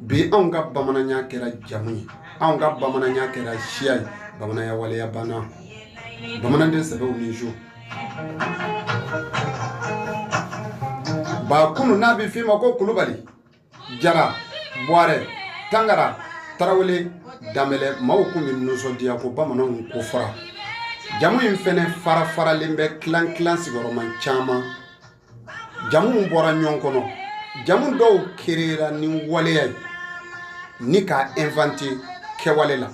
bi anw ka bamananya kɛra jamu ye anw ka bamananya kɛra siya ye bamananya waleya banna bamanaden sɛbɛw ni jo ba kunun n'a bɛ f'i ma ko kulubali jara buwarɛ tangara tarawele danbɛlɛ maaw kun bɛ nisɔndiya ko bamananw ko fara jamu in fɛnɛ farafaralen bɛ kilan kilan sigiyɔrɔma caman jamu bɔra ɲɔgɔn kɔnɔ jamu dɔw kerera ni waleya ye ni k'a invente kɛwale la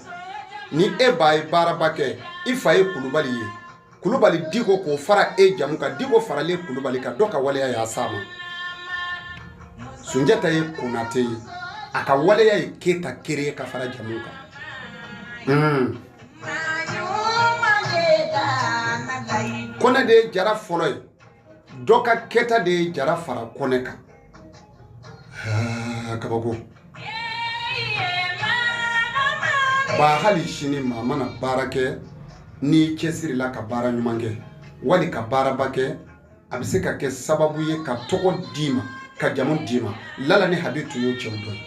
ni e ba ye baaraba kɛ i fa ye kulubali ye kulubali diko k'o fara e jamu kan diko faralen kulubali kan dɔ ka waleya y'a s'a ma sunjata ye konate ye a ka waleya ye keyita kere ka fara jamu kan hmm. kɔnɛ de ye jara fɔlɔ ye dɔ ka kɛta de ye jara fara kɔnɛ kan kabako ba hali sini maa mana baara kɛ n'i cɛsirila ka baara ɲuman kɛ wali ka baaraba kɛ a bɛ se ka kɛ sababu ye ka tɔgɔ d'i ma ka jamu d'i ma lala ni habi tun y'o cɛw dɔ ye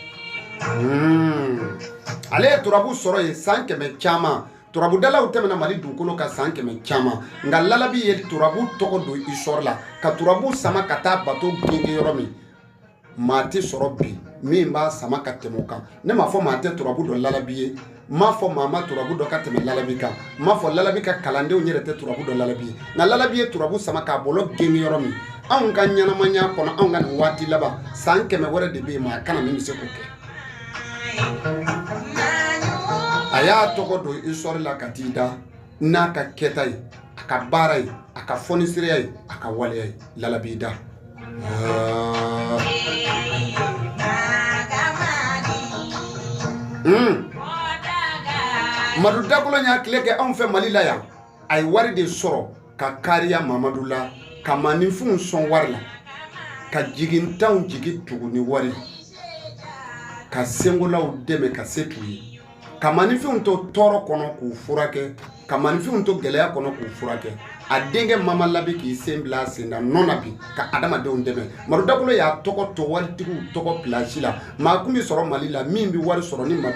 ale ye turabu sɔrɔ yen san kɛmɛ caman turabudalaw tɛmɛna mali dugukolo kan san kɛmɛ caman nka lalabi ye turabu tɔgɔ don histoire la ka turabu sama ka taa bato gengen yɔrɔ min maa tɛ sɔrɔ bi min b'a sama ka tɛmɛ o kan ne m'a fɔ maa tɛ turabu dɔn lalabi ye n m'a fɔ maa ma turabu dɔn ka tɛmɛ lalabi kan n m'a fɔ lalabi ka kalandenw yɛrɛ tɛ turabu dɔn lalabi ye nka lalabi ye turabu sama k'a bɔlɔ gengen yɔrɔ min anw ka ɲɛnamaya kɔnɔ anw ka nin waati laban san kɛmɛ wɛrɛ de bɛ yen maa ka na min bɛ se k'o kɛ a y'a tɔgɔ don histoire la ka t'i da n'a ka kɛta ye a ka baara ye a ka fɔnisiriya ye a ka waleya ye lalabi da hmm. madu dakolo y'a tile kɛ anw fɛ mali la yan a ye wari de sɔrɔ ka kariya mamadu la ka maninfinw sɔn wari la ka jigintanw jigi tugu ni wari ka senkolaw dɛmɛ ka se t'u ye ka maninfinw to tɔɔrɔ kɔnɔ k'u furakɛ ka maninfinw to gɛlɛya kɔnɔ k'u furakɛ a denkɛ mama la bɛ k'i sen bila a sen na nɔ na bi ka adamadenw dɛmɛ madu dakolo y'a tɔgɔ to waritigiw tɔgɔ pilasi la maa tun bɛ sɔrɔ mali la min bɛ wari sɔrɔ ni ma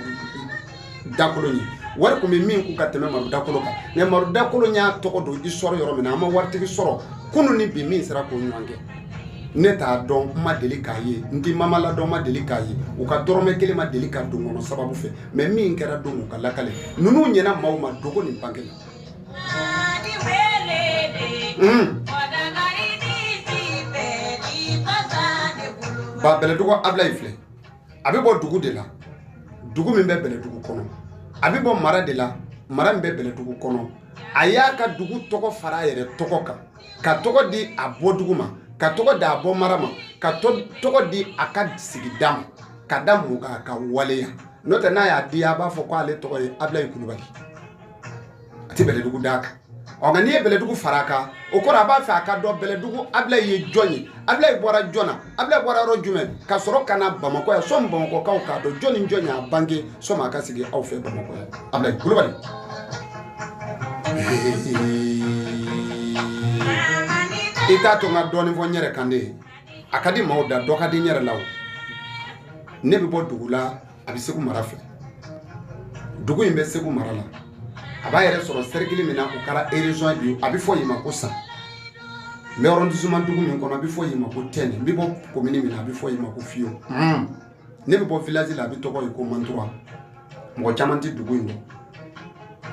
dakolo ye wari tun bɛ min kun ka tɛmɛ madu dakolo kan mɛ madu dakolo y'a tɔgɔ don histoire yɔrɔ min na an ma waritigi sɔrɔ kunun ni bi min sera k'o ɲɔgɔn kɛ ne t'a dɔn n ma deli k'a ye n tɛ mama la dɔn n ma deli k'a ye u ka dɔrɔmɛ kelen ma deli ka don n kɔnɔ sababu fɛ mɛ min kɛra don u ka lakale ninnu ɲɛna maaw ma dogo ni bange la ba bɛlɛdugu abila in filɛ a bɛ bɔ dugu de la dugu min bɛ bɛlɛdugu kɔnɔ a bɛ bɔ mara de la mara min bɛ bɛlɛdugu kɔnɔ a y'a ka dugu tɔgɔ fara a yɛrɛ tɔgɔ kan ka tɔgɔ di a bɔ dugu ma ka tɔgɔ di a bɔ mara ma ka tɔgɔ di a ka sigida ma ka da mun kan a ka waleya n'o tɛ n'a y'a diya a b'a fɔ ko ale tɔgɔ ye Abilayi Kulubali a tɛ bɛlɛdugu d'a kan ɔ nka n'i ye bɛlɛdugu fara a kan o kɔrɔ a b'a fɛ a ka dɔn bɛlɛdugu abilayi ye jɔn ye abilayi bɔra jɔn na abilayi bɔra yɔrɔ jumɛn ka sɔrɔ ka na bamakɔ yan sɔmi bamakɔkaw k'a dɔn jɔn ni jɔn y'a bange sɔmi a ka sigi aw fɛ bamakɔ yan abilayi kulubali i t'a to n ka dɔɔnin fɔ n yɛrɛ kan de a ka di maaw da dɔ ka di n yɛrɛ la o ne bɛ bɔ dugu la a bɛ segu mara fɛ dugu in bɛ segu mara la a b'a yɛrɛ sɔrɔ serikili min na o kɛra erezɔn bi a bɛ fɔ yen ma ko san n bɛ arɔndisiman dugu min kɔnɔ a bɛ fɔ yen ma ko tɛnɛ n bɛ bɔ komini min na a bɛ fɔ yen ma ko fiyɔn hmm. ne bɛ bɔ vilazi la a bɛ tɔgɔ ye ko mantura mɔgɔ caman tɛ dugu in dɔn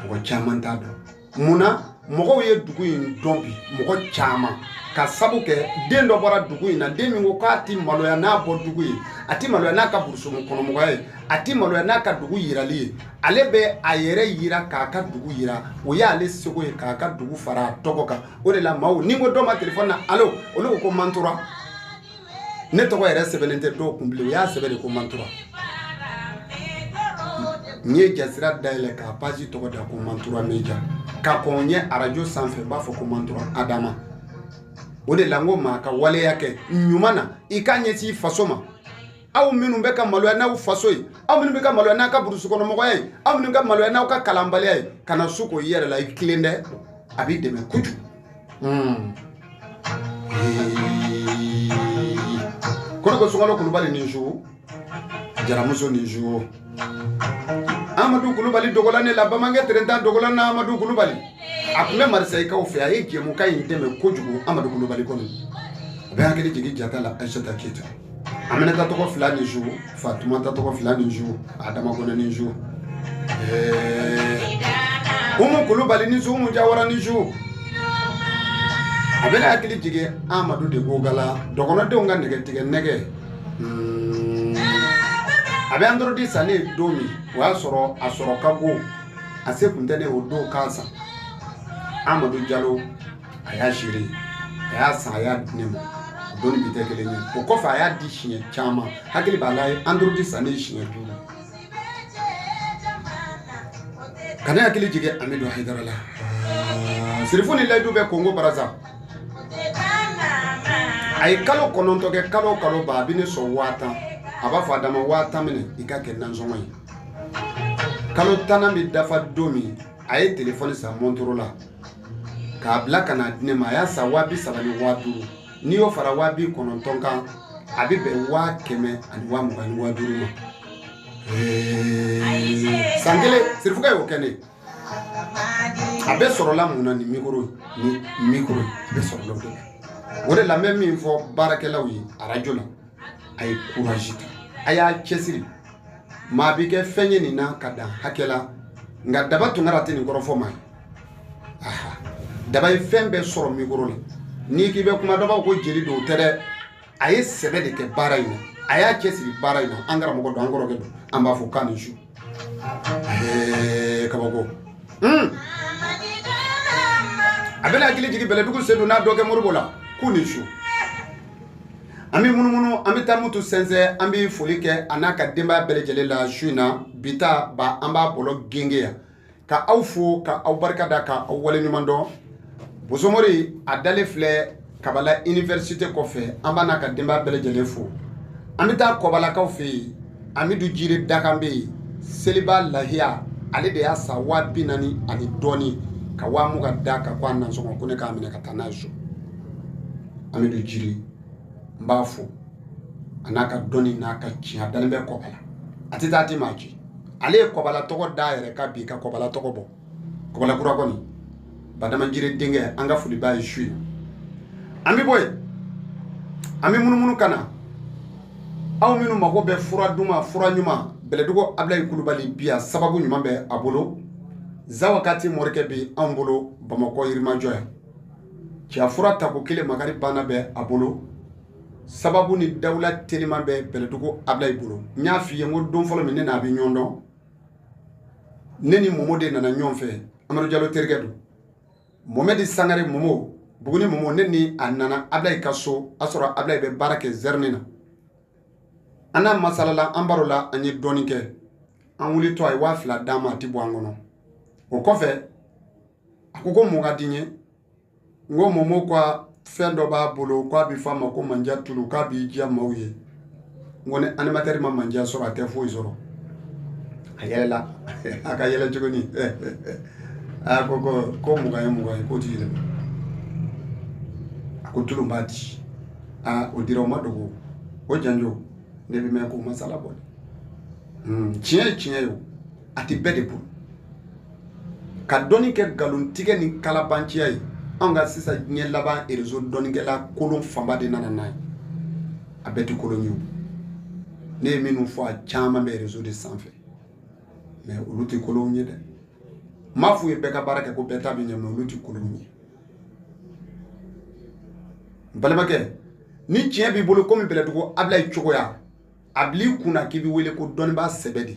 mɔgɔ caman t'a dɔn mun na mɔgɔw ye dugu in dɔn bi mɔgɔ caman ka sabu kɛ den dɔ bɔra dugu in na den min ko k'a ti maloya n'a bɔ dugu ye a ti maloya n'a ka burusumu kɔnɔmɔgɔya ye a ti maloya n'a ka dugu yirali ye ale bɛ a yɛrɛ yira k'a ka dugu yira o y'ale seko ye k'a ka dugu fara a tɔgɔ kan o de la maaw ni ko dɔ ma telefɔni na alo olu ko ko mantura ne tɔgɔ yɛrɛ sɛbɛnnen tɛ dɔw kun bilen u y'a sɛbɛn de ko mantura n ye jasira dayɛlɛ k'a page tɔgɔ da ko mantura media ka kɔn ɲɛ arajo sanfɛ n b'a fɔ ko mantura adama o de la n ko maa ka waleya kɛ ɲuman na i k'a ɲɛsin i faso ma aw minnu bɛ ka maloya n'aw faso ye aw minnu bɛ ka maloya n'aw ka burusukɔnɔmɔgɔya ye aw minnu ka maloya n'aw ka kalanbaliya ye kana su ko i yɛrɛ la i tilen dɛ a b'i dɛmɛ kojugu hmm. ko ne ko sunkalo kulubali ni su jaramuso ni su amadu kulubali dogola ne la bamanankɛ terentan dogola na amadu kulubali a tun bɛ marisayikaw fɛ a ye jɛmukan in dɛmɛ kojugu amadu kulubali kɔnɔ a bɛ hakili jigin jata la aisata keyita aminata tɔgɔ fila ni su fatumata tɔgɔ fila ni su adama kɔnɛ ni su umu kulubali ni su umu jawara ni su a bɛna hakili jigin amadu de ko gala dɔgɔnɔdenw ka nɛgɛ tigɛ nɛgɛ a bɛ android san ne don min o y'a sɔrɔ a sɔrɔ ka go a se kun tɛ ne o don k'a san amadu jalo a y'a seere a y'a san a y'a di ne ma o don ni bi tɛ kelen ye o kɔfɛ a y'a di siɲɛ caman hakili b'a la android san ne siɲɛ duuru ka ne hakili jigin amidu hayidara la sirifu ni ladu bɛ kongo baraza a ye kalo kɔnɔntɔn kɛ kalo kalo ba a bɛ ne sɔn waa tan a b'a fɔ adama waa tan minɛ i ka kɛ nansɔngɔ ye kalo tannan bɛ dafa don min a ye telefɔni san mɔntoro la k'a bila ka n'a di ne ma a y'a san waa bi saba ni waa duuru n'i y'o fara waa bi kɔnɔntɔn kan a bɛ bɛn waa kɛmɛ ani waa mugan ni waa duuru ma san kelen sirifukɛ y'o kɛ ne a bɛɛ sɔrɔla mun na ni mikoro ni mikoro a bɛɛ sɔrɔla o de la o de la n bɛ min fɔ baarakɛlaw ye arajo la a ye kurazi ta a y'a cɛsiri maa bɛ kɛ fɛn ye nin na ka dan hakɛ la nka daba tunkara tɛ nin kɔrɔ fɔ maa ye daba ye fɛn bɛɛ sɔrɔ mikoro la n'i k'i bɛ kuma dɔ ko jeli don o tɛ dɛ a ye sɛbɛ de kɛ baara in na a y'a cɛsiri baara in na an karamɔgɔ don an kɔrɔkɛ don an b'a fo k'a ni su kabako hmm. a bɛna hakili jigin bɛlɛdugu sedu n'a dɔgɔkɛ moribo la k'u ni su an bɛ munumunu an bɛ taa mutu sɛnsɛn an bɛ foli kɛ a n'a ka denbaya bɛɛ lajɛlen la su in na bi ta ba an b'a bɔlɔ gengen yan ka aw fo ka aw barika da ka aw waleɲuman dɔn bosomori a dalen filɛ kabala université kɔfɛ an b'a n'a ka denbaya bɛɛ lajɛlen fo an bɛ taa kɔbalakaw fɛ yen amidu jire dakan bɛ yen seliba lahiya ale de y'a san waa bi naani ani dɔɔni ka waa mugan d'a kan ko a nansɔngɔ ko ne k'a minɛ ka taa n'a ye so amidu jire n b'a fo a n'a ka dɔnni n'a ka tiɲɛ a dalen bɛ kɔbala a tɛ taa a tɛ maa ci ale ye kɔbala tɔgɔ da yɛrɛ ka bi ka kɔbala tɔgɔ bɔ kɔbala kura kɔni badama jire denkɛ an ka foli b'a ye su ye an bɛ bɔ yen an bɛ munumunu ka na aw minnu mago bɛ fura duman fura ɲuman bɛlɛdugu abilayi kulubali bi a sababu ɲuman bɛ a bolo zawakati morikɛ bɛ anw bolo bamakɔ yirimajɔ yan cɛya fura tako kelen makari banna bɛ a bolo sababu ni dawula teliman bɛ bɛlɛdugu ablayi bolo n y'a f'i ye n ko don fɔlɔ min ne n'a bɛ ɲɔgɔn dɔn ne ni momo de nana ɲɔgɔn fɛ amadu jalo terikɛ don momɛdi sangare momo buguni momo ne ni a nana ablayi ka so a sɔrɔ ablayi bɛ baara kɛ zɛrini na an n'a masalala an baro la an ye dɔɔnin kɛ an wulitɔ a ye waa fila d'an ma a ti bɔ an kɔnɔ o kɔfɛ a ko ko mun ka di n ye n ko momo ko fɛn dɔ b'a bolo k'a bɛ f'a ma ko manja tulu k'a b'i diya maaw ye n ko ni animatɛri ma manja sɔrɔ a tɛ foyi sɔrɔ a yɛlɛla a ka yɛlɛ cogo ni a ko ko ko mugan ye mugan ye k'o ti yɛlɛma a ko tulu b'a di aa o dira o ma dogo o janjo ne bɛ mɛn k'o masala bɔ tiɲɛ ye tiɲɛ ye o a tɛ bɛɛ de bolo ka dɔnni kɛ nkalontigɛ ni kalabanciya ye anw ka sisan diɲɛ laban réseau dɔnnikɛla kolon fanba de nana n'a ye a bɛɛ tɛ kolon ye ne ye minnu fɔ a caman bɛ réseau de sanfɛ mais olu tɛ kolon ye dɛ n m'a f'u ye bɛɛ ka baara kɛ ko bɛɛ ta bɛ ɲɛ mais olu tɛ kolon ye n balimakɛ ni tiɲɛ b'i bolo komi bɛlɛdugu abilayi cogoya a bil'i kun na k'i bɛ wele ko dɔnnibaa sɛbɛ de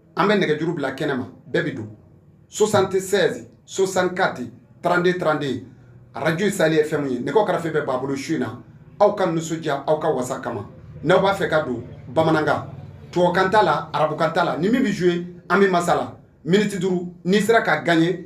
an bɛ nɛgɛjuru bila kɛnɛma bɛɛ bɛ don soixante-seize soixante-quatre trente-deux trente-deux radio Sahel FM ye nɛgɛw karafe bɛ ba bolo su in na aw ka nisɔndiya aw ka wasa kama n'aw b'a fɛ ka don bamanankan tubabukan t'a la arabukan t'a la ni min bɛ jouer an bɛ masala miniti duuru n'i sera ka gagner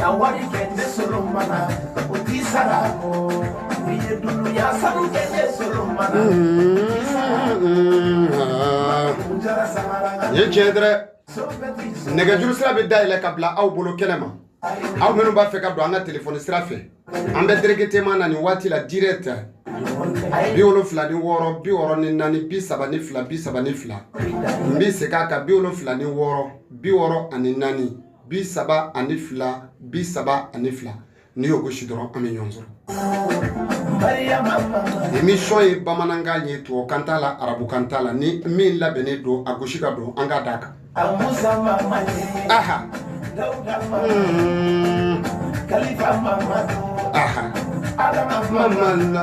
ka wari kɛ ne solo mana o t'i sara o n'i ye dunuya sanu kɛ ne solo mana o t'i sara o jara samara ka ye tiɲɛ dɛ nɛgɛjuru sira bɛ dayɛlɛ ka bila aw bolo kɛnɛ ma aw minnu b'a fɛ ka don an ka telefɔni sira fɛ an bɛ directement na nin waati la direct bi wolonfila ni wɔɔrɔ bi wɔɔrɔ ni naani bi saba ni fila bi saba ni fila n bɛ segin a kan bi wolonfila ni wɔɔrɔ bi wɔɔrɔ ani naani bi saba ani fila bi saba ani fila n'i y'o gosi dɔrɔn an bɛ ɲɔgɔn sɔrɔ émission ye bamanankan ye tubabukan t'a la arabukan t'a la ni min labɛnnen don a gosi ka don an ka d'a kan aha aha mamala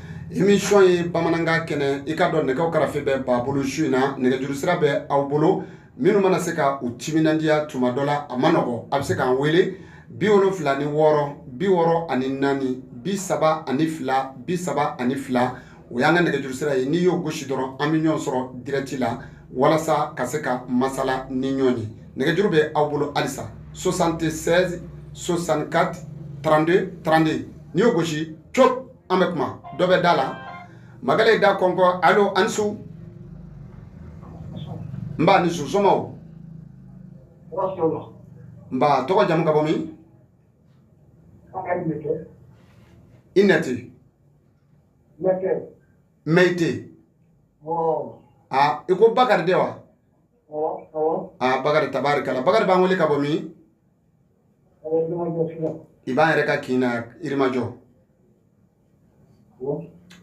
émission ye bamanankan kɛnɛ i k'a dɔn nɛgɛw karafe bɛ ba bolo su in na nɛgɛjuru sira bɛ aw bolo minnu mana se ka u timinandiya tuma dɔ la a man nɔgɔ a bɛ se k'an wele bi wolonfila ni wɔɔrɔ bi wɔɔrɔ ani naani bi saba ani fila bi saba ani fila o y'an ka nɛgɛjuru sira ye n'i y'o gosi dɔrɔn an bɛ ɲɔgɔn sɔrɔ direct la walasa ka se ka masala ni ɲɔgɔn ye nɛgɛjuru bɛ aw bolo halisa soixante-seize soixante-quatre trente-deux trente-deux n'i y'o gosi co an bɛ kuma dɔ bɛ da la magala da kɔnkɔ alo an su nba i ni su somɔgɔw nba tɔgɔ jamu ka bɔ min i nɛti mɛyite aa i ko bakari de wa aa bakari tabarikala bakari b'an wele ka bɔ min i b'an yɛrɛ ka kin na yirimajɔ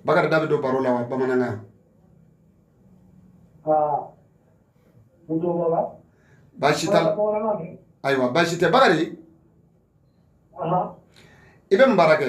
bakari da bɛ don baro la wa bamanankan baasi t'a la ayiwa baasi tɛ bakari i bɛ mun baara kɛ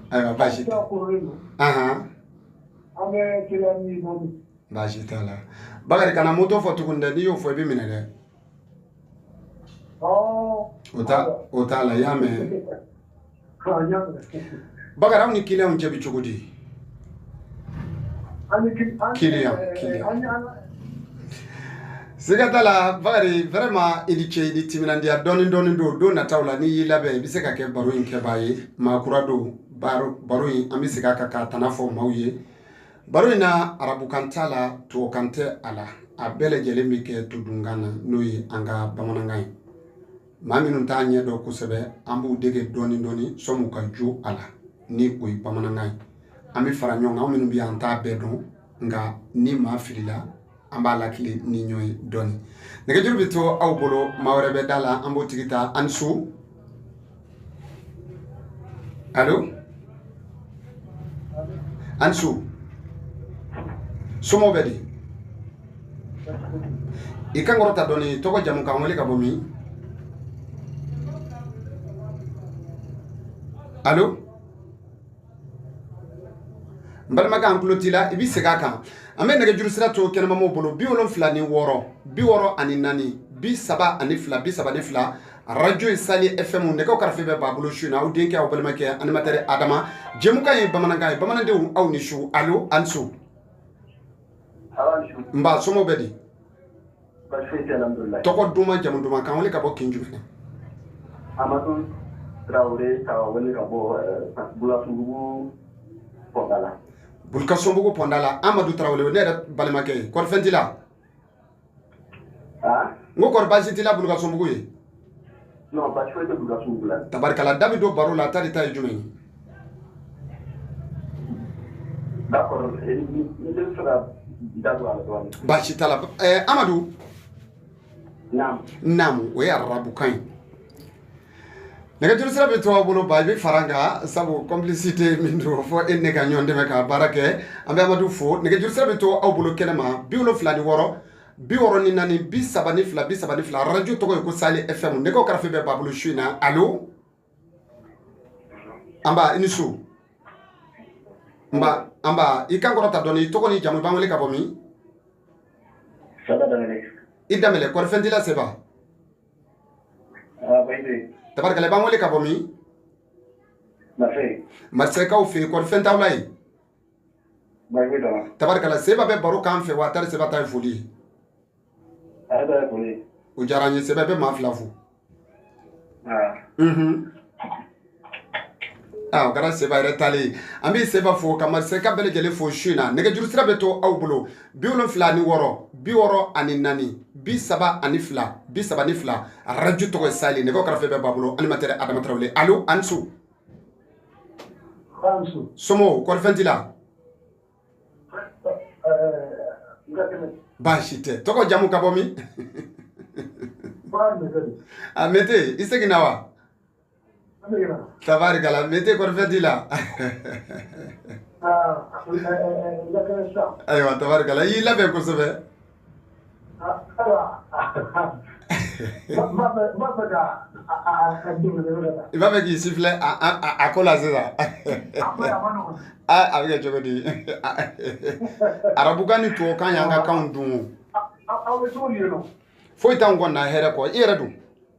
Ayiwa baasi tɛ baasi t'a la bakari kana moto fɔ tugun dɛ n'i y'o fɔ i bɛ minɛ dɛ o t'a la i y'a mɛn bakari aw ni kiliyan cɛ bɛ cogo di Kiliyan siga t'a la bakari vraiment i ni ce i ni timinandiya dɔɔnin dɔɔnin don don nataw la n'i y'i labɛn i bɛ se ka kɛ baro in kɛbaa ye maa kura don baro in an bɛ segin a kan k'a tana fɔ maaw ye baro in na arabukan t'a la tubabukan tɛ a la a bɛɛ lajɛlen bɛ kɛ todunkan na n'o ye an ka bamanankan ye maa minnu t'a ɲɛ dɔn kosɛbɛ an b'u dege dɔɔni dɔɔni sɔmu ka jo a la ni o ye bamanankan ye an bɛ fara ɲɔgɔn kan an minnu bɛ yan an t'a bɛɛ dɔn nka ni maa filila an b'a lakilen ni ɲɔgɔn ye dɔɔni nɛgɛjuru bɛ to aw bolo maa wɛrɛ bɛ da la an b'o tigi ta ani su alo ani su somɔgɔw bɛ di i kan kɔrɔta dɔɔni tɔgɔ jamu k'an wele ka bɔ min alo n balimakɛ an tulo t'i la i bɛ segin a kan an bɛ nɛgɛjuru sira to kɛnɛmamɔgɔw bolo bi wolonfila ni wɔɔrɔ bi wɔɔrɔ ani naani bi saba ani fila bi saba ni fila arajo ye Sali FM nɛgɛ karafe bɛ ba bolo su in na aw denkɛ aw balimakɛ animateur adama jɛmukan ye bamanankan ye bamanandenw aw ni su alo ani su n ba somɔgɔw bɛ di tɔgɔ duman jamu duman k'an wele ka bɔ kin jumɛn bulukasunbugu pɔnda la amadu tarawele ne yɛrɛ balimakɛ ye kɔri fɛn t'i la n ko kɔri baasi t'i la bulukasunbugu yen tabarikala da bɛ don baro la wa tari e ta ye jumɛn ye baasi t'a la amadu naamu o ye arabukan ye nɛgɛjuru sira bɛ to aw bolo ba i bɛ fara n kan sabu complicité min don fo e ne ka ɲɔgɔn dɛmɛ ka baara kɛ an bɛ amadu fo nɛgɛjuru sira bɛ to aw bolo kɛnɛ ma bi wolonfila ni wɔɔrɔ bi wɔɔrɔ ni naani bi saba ni fila bi saba ni fila arajo tɔgɔ ye ko Sali FM nɛgɛ karafe bɛ ba bolo su in na alo n ba i ni su n ba i kan kɔrɔta dɔɔni tɔgɔ ni jamu i b'an wele ka bɔ min i danbɛlɛ kɔri fɛn t'i la seba tabarikala i b'an wele ka bɔ min marisɛyikaw fɛ yen kɔri fɛn t'aw la yen tabarikala seba bɛ baro k'an fɛ wa tari seba ta ye foli ye o diyara n ye seba bɛ maa fila fo Ah, o kɛra seba yɛrɛ taalen ye an bɛ seba fo ka masakɛ bɛɛ lajɛlen fo su in na nɛgɛjuru sira bɛ to aw bolo bi wolonfila ani wɔɔrɔ bi wɔɔrɔ ani naani bi saba ani fila bi saba ni fila arajo tɔgɔ ye Sali nɛgɛ karafe bɛɛ b'a bolo animateur Adama Tarawele alo aw ni su somɔgɔw kɔri fɛn t'i la baasi tɛ tɔgɔ jamu ka bɔ min a Mete i seginna wa Tabarikala Mete kɔri fɛn t'i la ayiwa tabarikala i y'i labɛn kosɛbɛ i b'a fɛ k'i sifilɛ a ko la sisan a bɛ kɛ cogo di arabukan ni tubabukan y'an ka kan dun foyi t'an kɔni na hɛrɛ kɔ i yɛrɛ don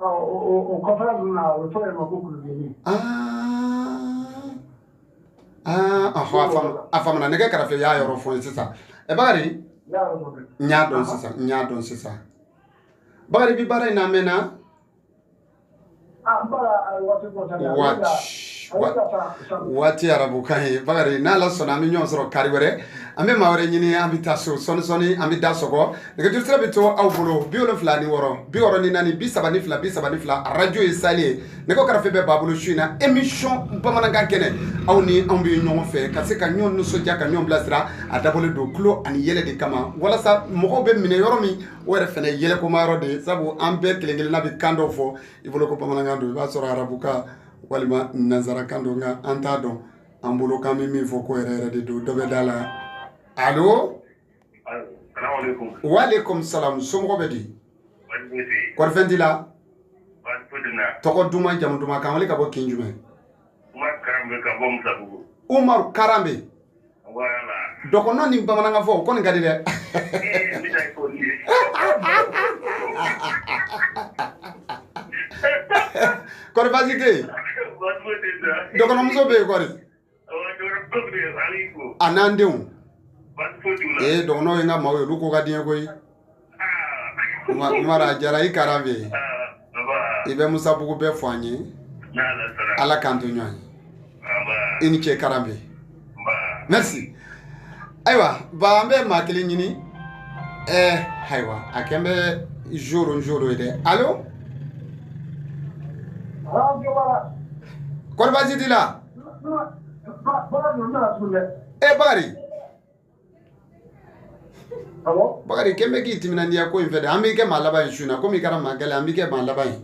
Ɔ o kɔfɛ ninnu na o tɔgɔ ye ma ko kulubali a faamuna nɛgɛ karafe y'a yɔrɔ fɔ n ye sisan ɛ Bakari n y'a dɔn sisan n y'a dɔn sisan Bakari bi baara in na minɛna waati arabukan ye Bakari n'Ala sɔnna an bɛ ɲɔgɔn sɔrɔ kari wɛrɛ an bɛ maa wɛrɛ ɲini an bɛ taa so sɔɔni sɔɔni an bɛ da sɔgɔ nɛgɛjuru sira bɛ to aw bolo bi wolonfila ni wɔɔrɔ bi wɔɔrɔ ni naani bi saba ni fila bi saba ni fila arajo ye Sali ye nɛgɛ karafe bɛɛ b'a bolo su in na emisɔn bamanankan kɛnɛ aw ni anw bɛ ɲɔgɔn fɛ ka se ka ɲɔgɔn nisɔndiya ka ɲɔgɔn bilasira a dabɔlen don tulon ani yɛlɛ de kama walasa mɔgɔw bɛ minɛ yɔrɔ min o yɛrɛ fana yɛlɛkoma yɔrɔ de ye sabu an bɛɛ kelen kelenna bɛ kan dɔw fɔ i bolo ko bamanankan don i b'a sɔrɔ arabukan walima nanzarakan don nka an t'a dɔn an bolo k'an bɛ min fɔ k'o yɛrɛ yɛrɛ de don dɔ bɛ da la alo Walekum salam somɔgɔw bɛ di kɔri fɛn t'i la tɔgɔ duman jamu duman k'an wele ka bɔ kin jumɛn Umaru Karambe dɔgɔnɔ ni bamanankan fɔ o kɔni ka di dɛ kɔri baasi tɛ yen dɔgɔnɔmuso bɛ yen kɔri a n'an denw ee dɔgɔnɔw ye n ka maaw ye olu ko ka di n ye koyi Umaru a diyara i Karambe i bɛ Musabugu bɛɛ fo an ye Ala k'an to ɲɔgɔn ye i ni ce Karambe merci ayiwa ba an bɛ maa kelen ɲini ɛɛ eh, ayiwa a kɛn bɛ jour o jour ye dɛ alo kɔri baasi t'i la e bakari bakari kɛmɛ bɛ k'i timinandiya ko in fɛ dɛ an b'i kɛ maa laban ye su in na komi i kɛra maa gɛlɛn an b'i kɛ maa laban ye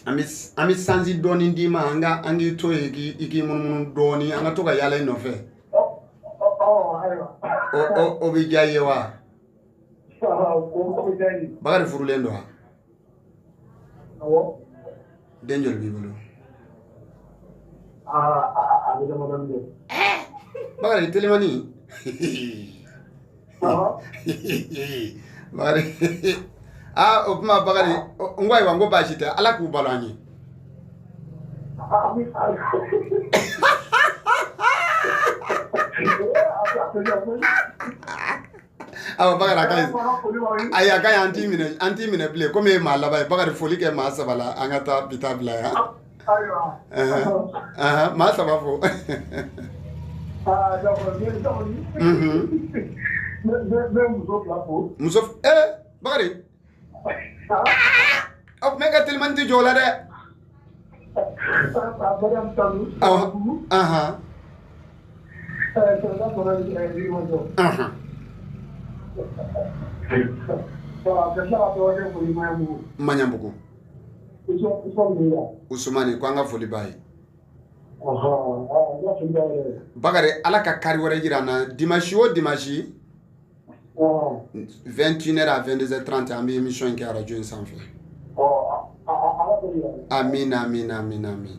an bɛ chance dɔɔni d'i ma an k'i to yen i k'i munumunu dɔɔni an ka to ka yaala i nɔfɛ o bɛ diya i ye wa bakari furulen don wa Awɔ. Den joli b'i bolo? Aa a bɛ damadɔni kɛ. Bakari Telimani. Awɔ. Bakari aa o tuma Bakari n ko ayiwa n ko baasi tɛ Ala k'u balo an ye. Ami ami. Ee a bɛ ka Awa Bakari a ka ɲi ayi a ka ɲi an t'i minɛ an t'i minɛ bilen komi e ye maa laban ye Bakari foli kɛ maa saba la an ka taa bi ta bila yan maa saba fo muso ee Bakari ɔ ne ka telimani tɛ jɔ o la dɛ ɔhɔn ahan ahan maɲanbugu usumani ko an ka foli b'a ye bakari ala ka kari wɛrɛ jira an na dimansi o dimansi 2tinɛ a fɛndse tranti an bɛ imi in kɛ araj in sanfɛ a min min min min